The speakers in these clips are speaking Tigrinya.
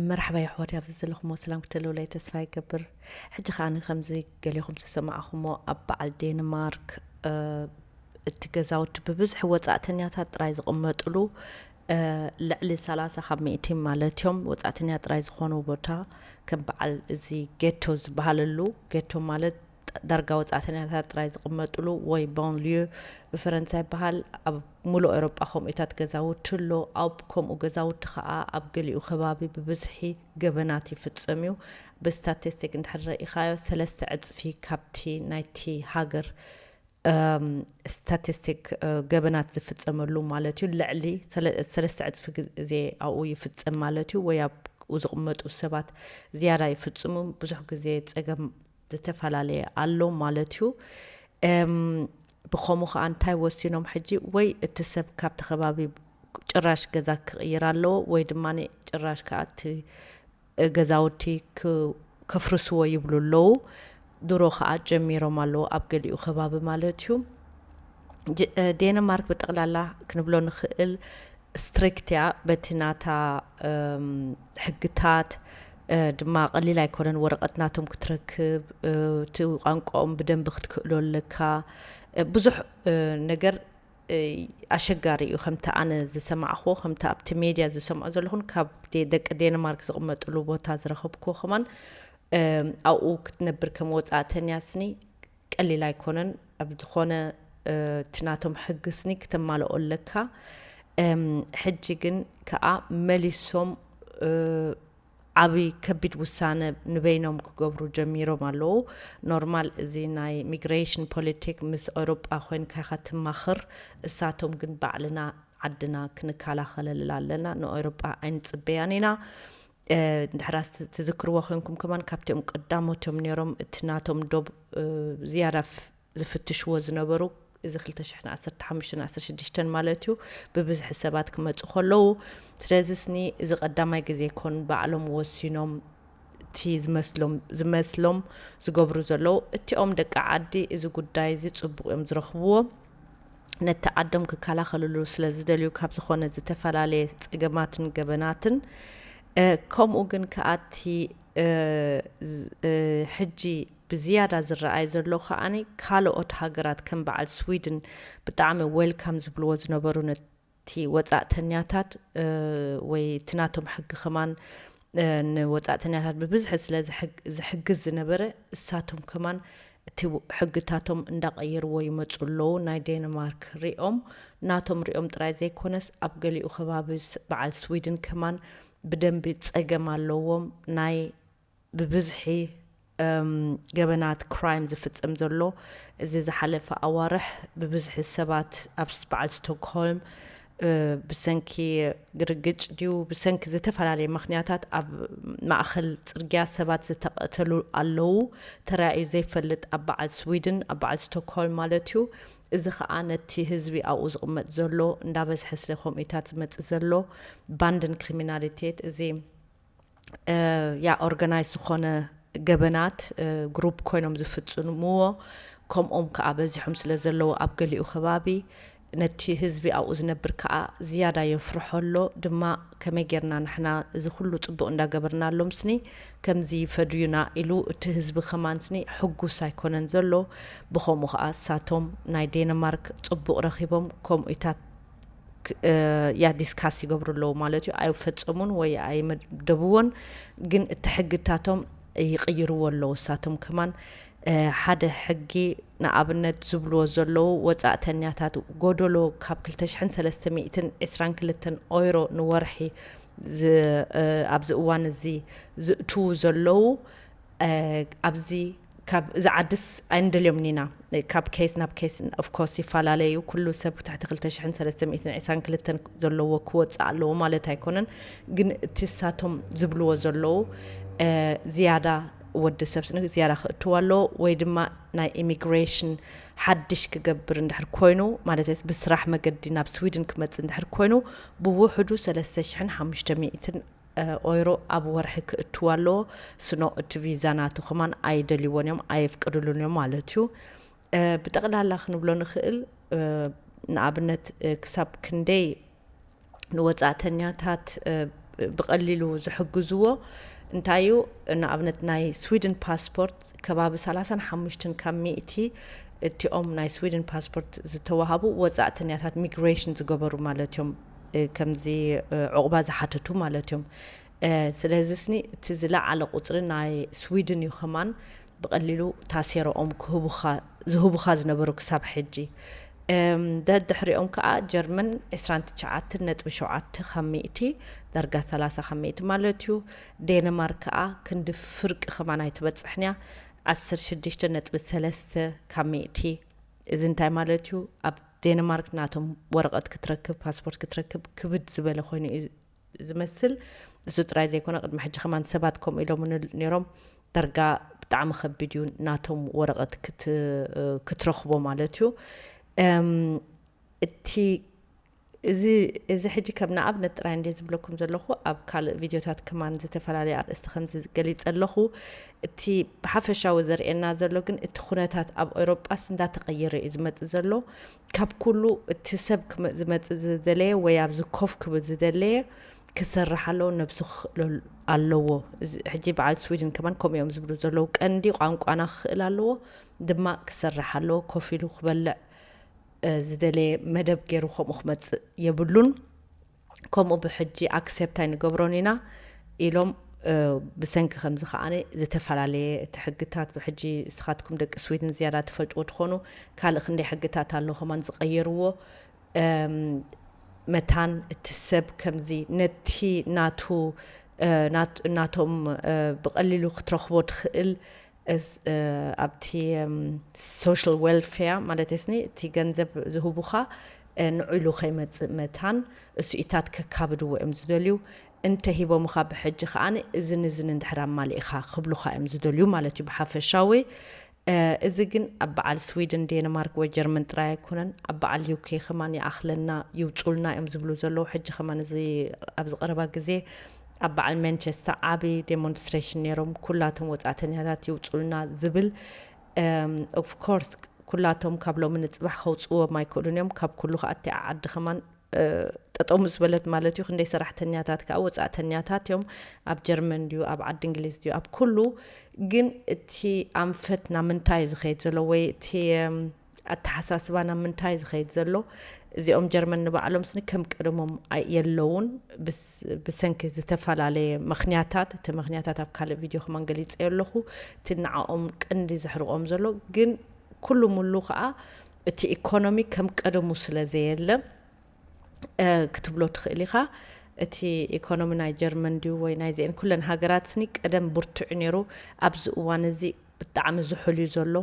መርሓባ የሕዋተይ ኣብዚ ዘለኹሞ ሰላም ክትህልውለይ ተስፋ ይገብር ሕጂ ከኣ ከምዚ ገሌኹም ዝሰማዕኹሞ ኣብ በዓል ዴንማርክ እቲ ገዛውቲ ብብዝሒ ወጻእተኛታት ጥራይ ዝቕመጥሉ ልዕሊ ሰላሳ ካብ ሚእቲ ማለት እዮም ወጻእተኛ ጥራይ ዝኾኑ ቦታ ከም በዓል እዚ ጌቶ ዝበሃለሉ ጌቶ ማለት ዳርጋ ወጻእተኛታት ጥራይ ዝቕመጥሉ ወይ ባን ልዩ ብፈረንሳ ይበሃል። ኣብ ምሉእ ኤውሮጳ ከምኡታት ገዛውቲ ኣሎ። ኣብ ከምኡ ገዛውቲ ከኣ ኣብ ገሊኡ ከባቢ ብብዝሒ ገበናት ይፍጸም እዩ። ብስታቲስቲክ እንድሕር ረኢኻዮ ሰለስተ ዕጽፊ ካብቲ ናይቲ ሃገር ስታቲስቲክ ገበናት ዝፍጸመሉ ማለት እዩ ልዕሊ ሰለስተ ዕጽፊ ግዜ ኣብኡ ይፍጸም ማለት እዩ ወይ ኣብ ዝቕመጡ ሰባት ዝያዳ ይፍጽሙ ብዙሕ ግዜ ጸገም ዝተፈላለየ ኣሎ ማለት እዩ እም ብከሙ ከኣ እንታይ ወሲኖም ሕጂ ወይ እቲ ሰብ ካብቲ ከባቢ ጭራሽ ገዛ ክቕይር ኣለዎ ወይ ድማ ጭራሽ ከኣ እቲ ገዛውቲ ከፍርስዎ ይብሉ ኣለዉ ድሮ ከኣ ጀሚሮም ኣለዉ ኣብ ገሊኡ ከባቢ ማለት እዩ ዴነማርክ ብጠቕላላ ክንብሎ ንኽእል ስትሪክት እያ በቲ ናታ ሕግታት ድማ ቀሊል ኣይኮነን ወረቀት ናቶም ክትረክብ እቲ ቋንቋኦም ብደንቢ ክትክእሎ ኣለካ ብዙሕ ነገር ኣሸጋሪ እዩ ከምቲ ኣነ ዝሰማዕክዎ ከምቲ ኣብቲ ሜድያ ዝሰምዖ ዘለኹን ካብ ደቂ ዴንማርክ ዝቕመጥሉ ቦታ ዝረኸብክዎ ከማን ኣብኡ ክትነብር ከም ወፃእተኛ ስኒ ቀሊል ኣይኮነን ኣብ ዝኾነ እቲ ናቶም ሕግስኒ ክተማልኦ ኣለካ ሕጂ ግን ከኣ መሊሶም ዓብይ ከቢድ ውሳነ ንበይኖም ክገብሩ ጀሚሮም ኣለዉ ኖርማል እዚ ናይ ሚግሬሽን ፖለቲክ ምስ ኤውሮጳ ኮንካ ኢኻ ትማኽር እሳቶም ግን ባዕልና ዓድና ክንከላኸለላ ኣለና ንኤውሮጳ ኣይንጽበያን ኢና ድሕራስ ትዝክርዎ ኮንኩም ከማን ካብቲኦም ቀዳሞትዮም ነይሮም እቲ ናቶም ዶብ ዝያዳ ዝፍትሽዎ ዝነበሩ እዚ 21516 ማለት እዩ ብብዝሒ ሰባት ክመፁ ከለዉ ስለዚ ስኒ እዚ ቀዳማይ ግዜ ኮን ባዕሎም ወሲኖም እቲ ዝመስሎም ዝመስሎም ዝገብሩ ዘለዉ እቲኦም ደቂ ዓዲ እዚ ጉዳይ እዚ ፅቡቅ እዮም ዝረኽብዎ ነቲ ዓዶም ክከላኸልሉ ስለ ዝደልዩ ካብ ዝኾነ ዝተፈላለየ ጸገማትን ገበናትን ከምኡ ግን ከኣ እቲ ሕጂ ብዝያዳ ዝረኣይ ዘሎ ከኣ ካልኦት ሃገራት ከም በዓል ስዊድን ብጣዕሚ ዌልካም ዝብልዎ ዝነበሩ እቲ ወጻእተኛታት ወይ እቲ ናቶም ሕጊ ከማን ንወጻእተኛታት ብብዝሒ ስለ ዝሕግዝ ዝነበረ እሳቶም ከማን እቲ ሕግታቶም እንዳቐየርዎ ይመጹ ኣለዉ ናይ ዴንማርክ ሪኦም ናቶም ሪኦም ጥራይ ዘይኮነስ ኣብ ገሊኡ ከባቢ በዓል ስዊድን ከማን ብደንቢ ጸገም ኣለዎም ናይ ብብዝሒ ገበናት፣ crime፣ ዝፍጸም ዘሎ እዚ ዝሓለፈ ኣዋርሕ ብብዝሒ ሰባት ኣብ በዓል ስቶክሆልም ብሰንኪ ግርግጭ ድዩ ብሰንኪ ዝተፈላለየ ምክንያታት ኣብ ማእኸል ፅርግያ ሰባት ዝተቐተሉ ኣለዉ ተራእዩ ዘይፈልጥ ኣብ በዓል ስዊድን ኣብ በዓል ስቶክሆልም ማለት እዩ እዚ ከዓ ነቲ ህዝቢ ኣብኡ ዝቕመጥ ዘሎ እንዳበዝሐ ስለ ከምኡታት ዝመፅእ ዘሎ ባንድን ክሪሚናሊቴት እዚ ያ ኦርጋናይዝ ዝኾነ ገበናት ግሩፕ ኮይኖም ዝፍፅምዎ ከምኦም ከዓ በዚሖም ስለ ዘለዉ ኣብ ገሊኡ ከባቢ ነቲ ህዝቢ ኣብኡ ዝነብር ከዓ ዝያዳ የፍርሖ ኣሎ ድማ ከመይ ጌርና ንሕና እዚ ኩሉ ፅቡቅ እንዳገበርናሎም ስኒ ከምዚ ይፈድዩና ኢሉ እቲ ህዝቢ ከማን ስኒ ሕጉስ ኣይኮነን ዘሎ ብከምኡ ከዓ እሳቶም ናይ ዴንማርክ ፅቡቅ ረኪቦም ከምኡታት ያ ዲስካስ ይገብሩ ኣለዉ ማለት እዩ ኣይፈፀሙን ወይ ኣይመደብዎን ግን እቲ ሕግታቶም ይቅይርዎ ኣለዉ እሳቶም ከማን ሓደ ሕጊ ንኣብነት ዝብልዎ ዘለዉ ወፃእተኛታት ጎደሎ ካብ 2322 ኦይሮ ንወርሒ ኣብዚ እዋን እዚ ዝእትዉ ዘለዉ ኣብዚ ካብ እዛ ዓድስ ኣይንደልዮምን ኢና ካብ ኬስ ናብ ኬስ ኦፍ ኮርስ ይፈላለ እዩ ኩሉ ሰብ ትሕቲ ክልተ ሽሕን ሰለስተ ሚእትን ዕስራን ክልተን ዘለዎ ክወፅእ ኣለዎ ማለት ኣይኮነን ግን እቲ ሳቶም ዝብልዎ ዘለዉ እ፣ ዝያዳ ወዲ ሰብ ስንግ ዝያዳ ክእትዎ ኣለዎ ወይ ድማ ናይ ኢሚግሬሽን ሓድሽ ክገብር እንድሕር ኮይኑ ማለተይስ ብስራሕ መገዲ ናብ ስዊድን ክመፅእ እንድሕር ኮይኑ ብውሕዱ ሰለስተ ሽሕን ሓሙሽተ ሚእትን ኦይሮ ኣብ ወርሒ ክእትው ኣለዎ ስኖ እቲ ቪዛ ናቱ ከማን ኣይደልይዎን እዮም ኣየፍቅድሉን እዮም ማለት እዩ ብጠቕላላ ክንብሎ ንኽእል ንኣብነት ክሳብ ክንደይ ንወፃእተኛታት ብቐሊሉ ዝሕግዝዎ እንታይ እዩ ንኣብነት ናይ ስዊድን ፓስፖርት ከባቢ ሰላሳን ሓሙሽትን ካብ ሚእቲ እቲኦም ናይ ስዊድን ፓስፖርት ዝተዋሃቡ ወጻእተኛታት ሚግሬሽን ዝገበሩ ማለት እዮም ከምዚ ዕቑባ ዝሓተቱ ማለት እዮም ስለዚ ስኒ እቲ ዝለዓለ ቁፅሪ ናይ ስዊድን እዩ ከማን ብቐሊሉ ታሴረኦም ክህቡኻ ዝህቡኻ ዝነበሩ ክሳብ ሕጂ ደድሕሪኦም ከዓ ጀርመን 29 ነጥቢ ሸውዓተ ካብ ሚእቲ ዳርጋ 30 ካብ ሚእቲ ማለት እዩ ዴንማርክ ከኣ ክንዲ ፍርቂ ከማን ኣይትበጽሕን እያ፣ ዓሰርተ ሽዱሽተ ነጥቢ ሰለስተ ካብ ሚእቲ። እዚ እንታይ ማለት እዩ፣ ኣብ ዴንማርክ ናቶም ወረቐት ክትረክብ፣ ፓስፖርት ክትረክብ ክብድ ዝበለ ኮይኑ እዩ ዝመስል። እሱ ጥራይ ዘይኮነ ቅድሚ ሕጂ ከማን ሰባት ከምኡ ኢሎምኒ ነይሮም፣ ዳርጋ ብጣዕሚ ከቢድ እዩ ናቶም ወረቐት ክትረኽቦ ማለት እዩ። እቲ እዚ እዚ ሕጂ ከም ንኣብነት ጥራይ እንድየ ዝብለኩም ዘለኹ፣ ኣብ ካልእ ቪድዮታት ከማን ዝተፈላለየ ኣርእስቲ ከምዚ ገሊጸ ኣለኹ። እቲ ብሓፈሻዊ ዘርእየና ዘሎ ግን እቲ ኩነታት ኣብ ኤውሮጳስ እንዳተቐየረ እዩ ዝመጽእ ዘሎ። ካብ ኩሉ እቲ ሰብ ዝመጽእ ዝደለየ ወይ ኣብዚ ኮፍ ክብል ዝደለየ ክሰርሕ ኣለዎ ነብሱ ክኽእሎ ኣለዎ። ሕጂ በዓል ስዊድን ከማን ከምኡ እዮም ዝብሉ ዘለዉ ቀንዲ ቋንቋና ክኽእል ኣለዎ ድማ ክሰርሕ ኣለዎ ኮፍ ኢሉ ክበልዕ ዝደለየ መደብ ጌሩ ከምኡ ክመጽእ የብሉን ከምኡ ብሕጂ ኣክሴፕት ኣይንገብሮን ኢና ኢሎም ብሰንኪ ከምዚ ከዓነ ዝተፈላለየ እቲ ሕግታት ብሕጂ እስኻትኩም ደቂ ስዊድን ዝያዳ ትፈልጥዎ ትኾኑ ካልእ ክንደይ ሕግታት ኣሎ ከማን ዝቀየርዎ መታን እቲ ሰብ ከምዚ ነቲ ናቱ ናቶም ብቀሊሉ ክትረኽቦ ትኽእል ኣብቲ ሶሻል ዌልፌር ማለት ስኒ እቲ ገንዘብ ዝህቡኻ ንዑ ኢሉ ከይመፅእ መታን እሱኢታት ከካብድዎ እዮም ዝደልዩ እንተሂቦምኻ ብሕጂ ከኣ እዝን እዝን እንድሕር ኣማሊእኻ ክብሉኻ እዮም ዝደልዩ ማለት እዩ ብሓፈሻዊ እዚ ግን ኣብ በዓል ስዊድን ዴንማርክ ወይ ጀርመን ጥራይ ኣይኮነን ኣብ በዓል ዩኬ ከማን ይኣኽለና ይውፁልና እዮም ዝብሉ ዘለዉ ሕጂ ከማን እዚ ኣብዚ ቀረባ ግዜ ኣብ በዓል መንቸስተ ዓቢ ዴሞንስትሬሽን ነይሮም ኩላቶም ወጻእተኛታት ይውጹልና ዝብል ኦፍ ኮርስ ኩላቶም ካብ ሎሚ ንጽባሕ ከውጽዎም ኣይክእሉን እዮም ካብ ኩሉ ከዓ እቲ ዓዲ ከማን ጠጠው ምስ በለት ማለት እዩ ክንደይ ሰራሕተኛታት ከዓ ወፃእተኛታት እዮም ኣብ ጀርመን ድዩ ኣብ ዓዲ እንግሊዝ ድዩ ኣብ ኩሉ ግን እቲ ኣንፈት ናብ ምንታይ እዩ ዝኸይድ ዘሎ ወይ እቲ ኣተሓሳስባ ናብ ምንታይ እዩ ዝኸይድ ዘሎ? እዚኦም ጀርመን ንባዕሎምስ ንከም ቀደሞም የለዉን ብሰንኪ ዝተፈላለየ ምኽንያታት፣ እቲ ምኽንያታት ኣብ ካልእ ቪድዮ ከማን ገሊጸዮ ኣለኹ፣ እቲ ንዓኦም ቀንዲ ዘሕርቖም ዘሎ ግን ኩሉ ሙሉ ከኣ እቲ ኢኮኖሚ ከም ቀደሙ ስለ ዘየለ ክትብሎ ትኽእል ኢኻ። እቲ ኢኮኖሚ ናይ ጀርመን ድዩ ወይ ናይዚኤን ኩለን ሃገራትስኒ ቀደም ብርቱዕ ነይሩ ኣብዚ እዋን እዚ ብጣዕሚ ዝሑል እዩ ዘሎ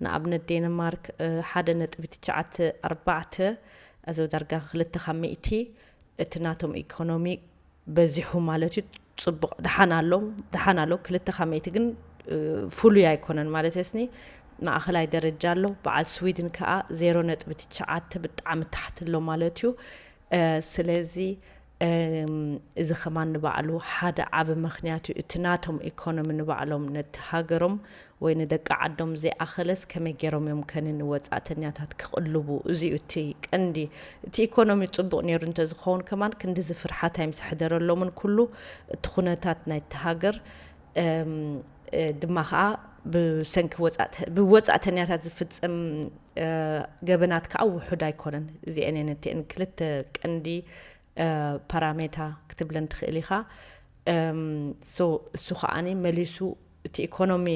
ንኣብነት ዴንማርክ ሓደ ነጥቢ ትቸዓተ ኣርባዕተ ኣዚ ዳርጋ ክልተ ካብ ሚእቲ እቲ ናቶም ኢኮኖሚ በዚሑ ማለት እዩ ጽቡቅ ድሓን ኣሎ ድሓን ኣሎ ክልተ ካብ ሚእቲ ግን ፍሉይ ኣይኮነን ማለት ስኒ ማእኸላይ ደረጃ ኣሎ በዓል ስዊድን ከኣ ዜሮ ነጥቢ ትቸዓተ ብጣዕሚ ታሕቲ ኣሎ ማለት እዩ ስለዚ እዚ ከማን ንባዕሉ ሓደ ዓቢ መክንያት እዩ እቲ ናቶም ኢኮኖሚ ንባዕሎም ነቲ ሃገሮም ወይ ንደቂ ዓዶም ዘይኣኸለስ ከመይ ጌሮም እዮም ከኒ ንወጻእተኛታት ክቕልቡ እዚ እዩ እቲ ቀንዲ እቲ ኢኮኖሚ ጽቡቕ ኔሩ እንተዝኸውን ከማን ክንዲዚ ፍርሓት ኣይምስሕደረሎምን ኩሉ እቲ ኩነታት ናይቲ ሃገር ድማ ከኣ ብሰንኪ ብወጻእተኛታት ዝፍጸም ገበናት ከኣ ውሑድ ኣይኮነን። እዚኤን እየን እቲኤን ክልተ ቀንዲ ፓራሜታ ክትብለን ትኽእል ኢኻ። ሶ እሱ ከኣኒ መሊሱ እቲ ኢኮኖሚ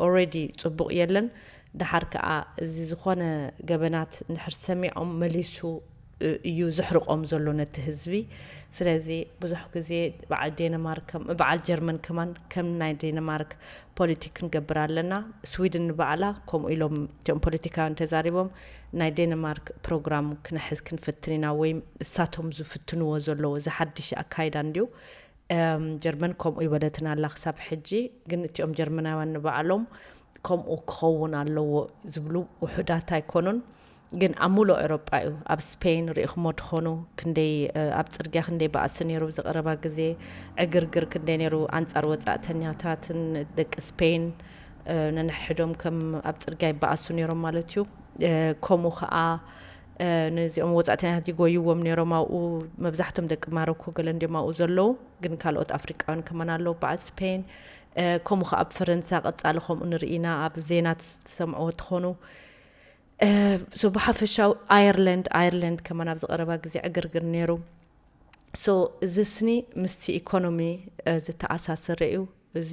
ኦልሬዲ ጽቡቕ የለን። ደሓር ከኣ እዚ ዝኾነ ገበናት እንድሕር ሰሚዖም መሊሱ እዩ ዘሕርቆም ዘሎ ነቲ ህዝቢ ስለዚ ብዙሕ ግዜ በዓል ዴንማርክ በዓል ጀርመን ከማን ከም ናይ ዴንማርክ ፖሊቲክ ክንገብር ኣለና ስዊድን ንባዕላ ከምኡ ኢሎም እቲኦም ፖለቲካውያን ተዛሪቦም ናይ ዴንማርክ ፕሮግራም ክነሕዝ ክንፍትን ኢና ወይ እሳቶም ዝፍትንዎ ዘለዎ እዚ ሓድሽ ኣካይዳ እንድዩ ጀርመን ከምኡ ይበለትና ኣላ ክሳብ ሕጂ ግን እቲኦም ጀርመናውያን ንባዕሎም ከምኡ ክኸውን ኣለዎ ዝብሉ ውሑዳት ኣይኮኑን ግን ኣብ ሙሉእ ኤሮጳ እዩ ኣብ ስፐይን ሪኢኽሞ ትኾኑ ክንደይ ኣብ ጽርግያ ክንደይ ባእሲ ነይሩ ኣብዚ ቀረባ ግዜ ዕግርግር ክንደይ ነይሩ ኣንጻር ወጻእተኛታትን ደቂ ስፐይን ነንሕድሕዶም ከም ኣብ ጽርግያ ይባኣሱ ነይሮም ማለት እዩ ከምኡ ከኣ ነዚኦም ወፃእተኛታት ይጎይዎም ነይሮም ኣብኡ መብዛሕቶም ደቂ ማሮኮ ገለ እንዲም ኣብኡ ዘለዉ ግን ካልኦት ኣፍሪቃውያን ከመን ኣለዉ በዓል ስፔን ከምኡ ከ ኣብ ፈረንሳ ቀፃሊ ከምኡ ንርኢና ኣብ ዜና ትሰምዕዎ ትኾኑ ሶ ብሓፈሻዊ ኣየርላንድ ኣየርላንድ ከማን ኣብዚ ቀረባ ግዜ ዕግርግር ነይሩ ሶ እዚ ስኒ ምስቲ ኢኮኖሚ ዝተኣሳሰረ እዩ እዚ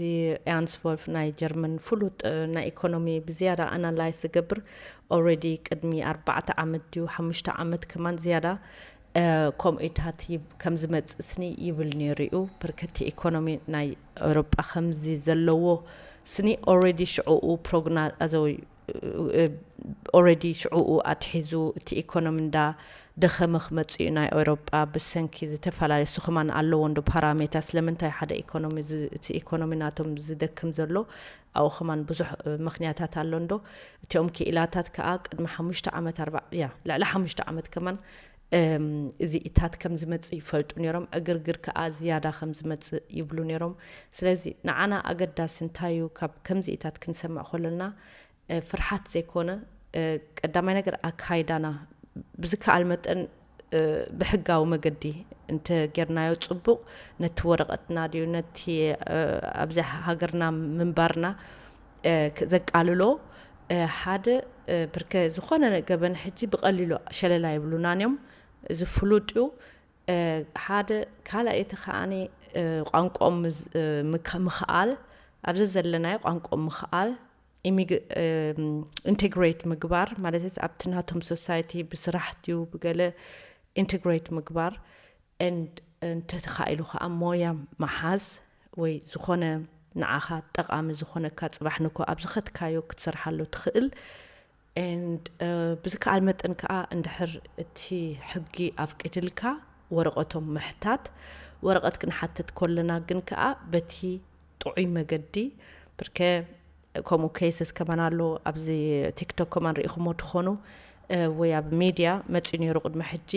ኤያንስ ቮልፍ ናይ ጀርመን ፍሉጥ ናይ ኢኮኖሚ ብዝያዳ ኣናላይዝ ዝገብር ኦልሬዲ ቅድሚ ኣርባዕተ ዓመት ድዩ ሓሙሽተ ዓመት ከማን ዝያዳ ከምኡታት ከም ዝመፅእ ስኒ ይብል ነይሩ እዩ ብርክቲ ኢኮኖሚ ናይ ኤውሮጳ ከምዚ ዘለዎ ስኒ ኦልሬዲ ሽዕኡ ፕሮግና ኣዘወዩ ኦረዲ ሽዑኡ ኣትሒዙ እቲ ኢኮኖሚ እንዳ ደኸመ ክመጽእ እዩ ናይ ኤውሮጳ ብሰንኪ ዝተፈላለየ ስኹማን ኣለዎ እንዶ ፓራሜታ ስለምንታይ ሓደ ኢኮኖሚ እቲ ኢኮኖሚ ናቶም ዝደክም ዘሎ ኣብኡ ከማን ብዙሕ ምክንያታት ኣሎ እንዶ እቲኦም ክኢላታት ከኣ ቅድሚ ሓሙሽተ ዓመት ኣርባ ያ ልዕሊ ሓሙሽተ ዓመት ከማን እዚኢታት ከም ዝመጽእ ይፈልጡ ነይሮም፣ ዕግርግር ከኣ ዝያዳ ከም ዝመጽእ ይብሉ ነይሮም። ስለዚ ንዓና ኣገዳሲ እንታይ እዩ፣ ካብ ከምዚኢታት ክንሰምዕ ከሎና ፍርሓት ዘይኮነ፣ ቀዳማይ ነገር ኣካይዳና ብዝከኣል መጠን ብሕጋዊ መገዲ እንተ ጌርናዮ ጽቡቕ፣ ነቲ ወረቐትና ድዩ ነቲ ኣብዚ ሃገርና ምንባርና ዘቃልሎ ሓደ ብርከ ዝኾነ ገበን ሕጂ ብቐሊሉ ሸለል ኣይብሉናን እዮም እዚ ፍሉጥ እዩ ሓደ ካልኣይ እቲ ከዓኒ ቋንቋኦም ምክኣል ኣብዚ ዘለናዮ ቋንቋኦም ምክኣል ኢንቴግሬት ምግባር ማለት ኣብቲ ናቶም ሶሳይቲ ብስራሕ ድዩ ብገለ ኢንቴግሬት ምግባር እንተተኻኢሉ ከዓ ሞያ መሓዝ ወይ ዝኾነ ንዓኻ ጠቓሚ ዝኾነካ ጽባሕ ንግሆ ኣብ ዝኸትካዮ ክትሰርሓሉ ትኽእል and ብዝከኣል መጠን ከኣ እንድሕር እቲ ሕጊ ኣፍቂድልካ ወረቐቶም ምሕታት ወረቐት ክንሓትት ኮለና ግን ከኣ በቲ ጥዑይ መገዲ ብርከ ከምኡ ኬስስ ከማን ኣሎ ኣብዚ ቲክቶክ ከማን ርኢኹሞ ትኾኑ ወይ ኣብ ሚድያ መጺኡ ነይሩ ቅድሚ ሕጂ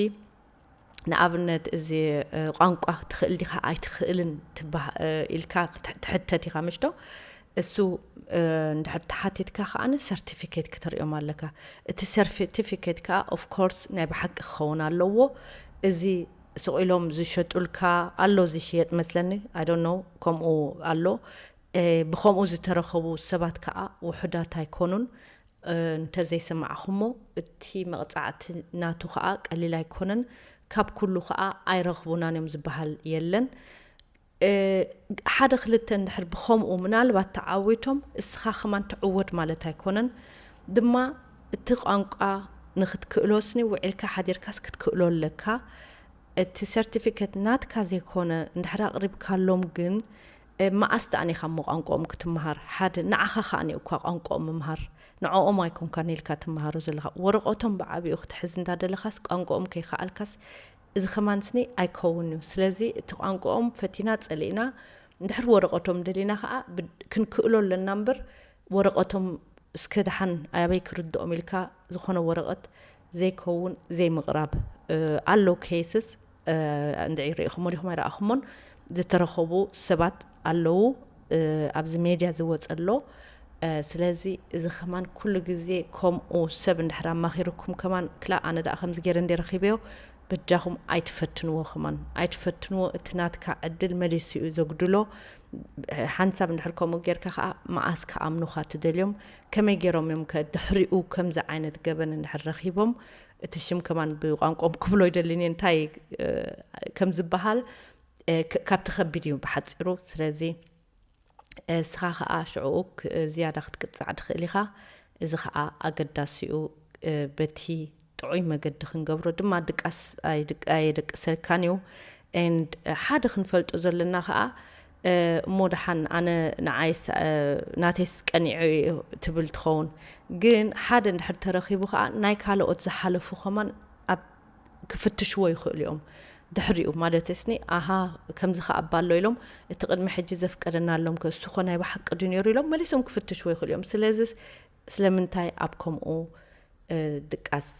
ንኣብነት እዚ ቋንቋ ትኽእል ዲኻ ኣይትኽእልን ኢልካ ትሕተት ኢኻ ምሽዶ እሱ እንድሕር ተሓቲትካ ከዓነ ሰርቲፊኬት ክትሪኦም ኣለካ እቲ ሰርቲፊኬት ከዓ ኦፍኮርስ ናይ ብሓቂ ክኸውን ኣለዎ እዚ ስቂሎም ዝሸጡልካ ኣሎ ዝሽየጥ መስለኒ ኣይዶኖ ከምኡ ኣሎ ብከምኡ ዝተረኸቡ ሰባት ከዓ ውሑዳት ኣይኮኑን እንተ ዘይሰማዕኩሞ እቲ መቕጻዕቲ ናቱ ከኣ ቀሊል ኣይኮነን ካብ ኩሉ ከኣ ኣይረኽቡናን እዮም ዝበሃል የለን ሓደ ክልተ እንድሕር ብኸምኡ ምናልባት ተዓዊቶም እስኻ ከማን ትዕወት ማለት ኣይኮነን ድማ እቲ ቋንቋ ንክትክእሎስኒ ውዒልካ ሓዲርካስ ክትክእሎ ኣለካ እቲ ሰርቲፊከት ናትካ ዘይኮነ እንድሕር ኣቕሪብካሎም ግን መኣስ ደኣን ኢኻ እሞ ቋንቁኦም ክትመሃር ሓደ ንዓኻ ከኣ ኒኡካ ቋንቁኦም ምምሃር ንዖኦም ኣይኮንካን ኢልካ ትመሃሮ ዘለኻ ወረቆቶም ብዓቢኡ ክትሕዝ እንዳ ደለኻስ ቋንቁኦም ከይከኣልካስ እዚ ከማንስኒ ኣይከውን እዩ ስለዚ እቲ ቋንቁኦም ፈቲና ጸሊእና እንድሕር ወረቆቶም ደሊና ከኣ ክንክእሎ ኣለና እምበር ወረቆቶም እስከ ደሓን ኣበይ ክርድኦም ኢልካ ዝኾነ ወረቀት ዘይከውን ዘይምቅራብ ኣሎ ኬስስ እንድዒ ሪኢኹሞ ዲኹም ኣይረኣኹሞን ዝተረኸቡ ሰባት ኣለዉ ኣብዚ ሜድያ ዝወፀ ኣሎ ስለዚ እዚ ከማን ኩሉ ግዜ ከምኡ ሰብ እንድሕር ኣማኺርኩም ከማን ክላ ኣነ ደኣ ከምዚ ገይረ እንደ ረኺበዮ በጃኹም ኣይትፈትንዎ ከማን ኣይትፈትንዎ እቲ ናትካ ዕድል መሊሱ እዩ ዘጉድሎ ሓንሳብ እንድሕር ከምኡ ጌርካ ከዓ መዓስ ክኣምኑኻ ትደልዮም ከመይ ገይሮም እዮም ከ ድሕሪኡ ከምዚ ዓይነት ገበን እንድሕር ረኺቦም እቲ ሽም ከማን ብቋንቆም ክብሎ ይደሊኒ እንታይ ከም ዝበሃል ካብቲ ከቢድ እዩ ብሓፂሩ ስለዚ እስኻ ከዓ ሽዕኡ ዝያዳ ክትቅፃዕ ትኽእል ኢኻ እዚ ከዓ ኣገዳሲኡ በቲ ጥዑይ መገዲ ክንገብሮ ድማ ድቃስ ኣየደቅሰልካን እዩ ሓደ ክንፈልጦ ዘለና ከዓ እሞ ደሓን ኣነ ንዓይስ ናተይስ ቀኒዑ እዩ ትብል ትኸውን ግን ሓደ እንድሕር ተረኺቡ ከኣ ናይ ካለኦት ዝሓለፉ ከማን ኣብ ክፍትሽዎ ይኽእሉ እዮም ድሕሪኡ ማለትስኒ ኣሃ ከምዚ ከ ኣባ ኣሎ ኢሎም እቲ ቅድሚ ሕጂ ዘፍቀደናሎም ከ እሱ ኮ ናይ ብሓቂ ድዩ ነይሩ ኢሎም መሊሶም ክፍትሽዎ ይኽእሉ እዮም ስለዚስ ስለምንታይ ኣብ ከምኡ ድቃስ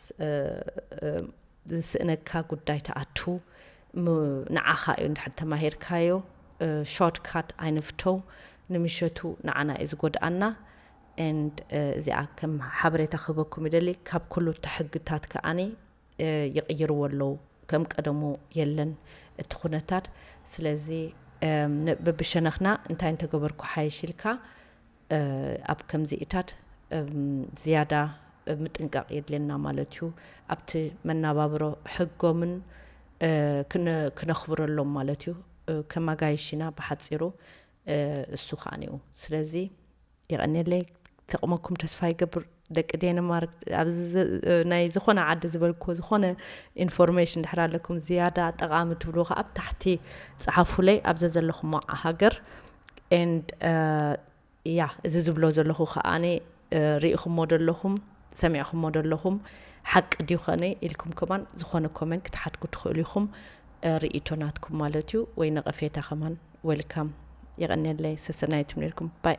ዝስእነካ ጉዳይ ትኣቱ ም ንዓኻ እዩ እንድሕር ተማሂርካዮ ሾርት ካት ኣይንፍተው ንምሸቱ ንዓና እዩ ዝጎድኣና and እዚኣ ከም ሓበሬታ ክህበኩም ይደሊ ካብ ኩሉ እቲ ሕግታት ከኣ ይቕይርዎ ኣለው ከም ቀደሙ የለን እቲ ኩነታት ስለዚ በብሸነኽና እንታይ እንተገበርኩ ሓይሽ ኢልካ ኣብ ከምዚኢታት ዝያዳ ምጥንቃቕ የድልየና ማለት እዩ። ኣብቲ መናባብሮ ሕጎምን ክነኽብረሎም ማለት እዩ። ከም ኣጋይሽ ኢና ብሓጺሩ እሱ ከኣኒኡ ስለዚ የቐኔለይ ተቕመኩም ተስፋ ይገብር። ደቂ ዴንማርክ ኣብዚ ዘ ናይ ዝኾነ ዓዲ ዝበልክዎ ዝኾነ ኢንፎርሜሽን ድሕር ኣለኩም ዝያዳ ጠቓሚ ትብልዎ ከኣ ኣብ ታሕቲ ጽሓፉለይ ኣብ ዘዘለኹሞ ሃገር ኤንድ ያ እዚ ዝብሎ ዘለኹ ከኣኒ ርኢኹሞ ዶ ኣለኹም ሰሚዕኹሞ ዶ ኣለኹም ሓቂ ድዩ ኸነ ኢልኩም ከማን ዝኾነ ኮመንት ክትሓድጉ ትኽእሉ ኢኹም ርኢቶ ናትኩም ማለት እዩ ወይ ነቐፌታ ከማን ዌልካም የቐንየለይ ሰሰናይቱም ነርኩም ባይ